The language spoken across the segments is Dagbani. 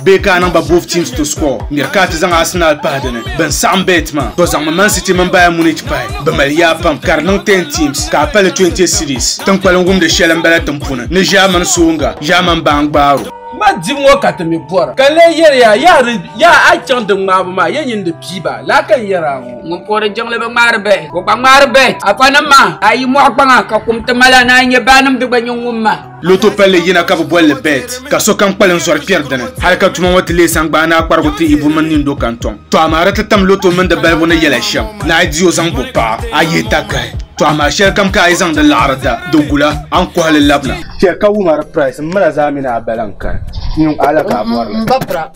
bee ka a niŋ ba both teams to score ŋmɛri ka a ti zaŋ Arsenal pahi dini bin saɣam bet maa to zaŋmi Man City mini Bayern Munich pahi bi mali yaa pam ka di niŋ 10 teams ka a pali 20 cities tinkpalim wumdi shɛli n bala tin puni ni German soonga German baan gbaaro Ma dibu ŋɔ ka ti mi bɔra, ka lee yɛli ya, yaa di, yaa a chaŋ di ŋmaabu maa, ya nyin di pii ba, laa ka n yɛri a ŋɔ. Ŋun puhi di jiŋli bi ŋmaari bɛhi, o gba ŋmaari bɛhi. Afanim maa, a yi mɔɣi kpaŋa, ka kum ti mali a ni a yi nyɛ baanim di gba nyɛ ŋun ma. Loto palli yina ka bi boli li bet ka sokam kpalim zɔri kpɛri dini hali ka tuma ŋɔ ti leei sangbaa ni a kparigu ti ibu mini nindo ka n tɔŋ. Tɔ amaa di ti tam loto mini di balibu ni yɛla shɛm ni a di o zaŋ bo paɣa a yihi takahi. Tɔ amaa shɛlikam ka a yi zaŋdi laɣiri da di gula a ni kɔhi li labina. Chɛ ka wumari price m mila zaa mini a bala n-kani n-niŋ a la ka a bɔri li.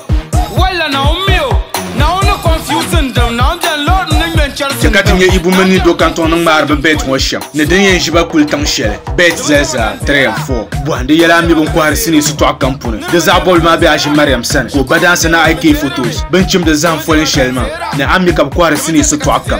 Chaka ti nyɛ Ibu mini Nido kantɔŋ ni ŋmaari bi bɛt ŋɔ shɛm ni din yɛn ʒiba kuli tiŋ shɛli bɛt zalizaa 3 and 4 bɔhim di yɛla mi bin kɔhiri sinii sitɔɣu kam puni di zaɣ bɔbili maa bɛ Aʒi Mariam sani ka o ba daansi na IK Photos bin chimdi zahim foli shɛli maa ni a mi ka bi kɔhiri sinii sitɔɣu kam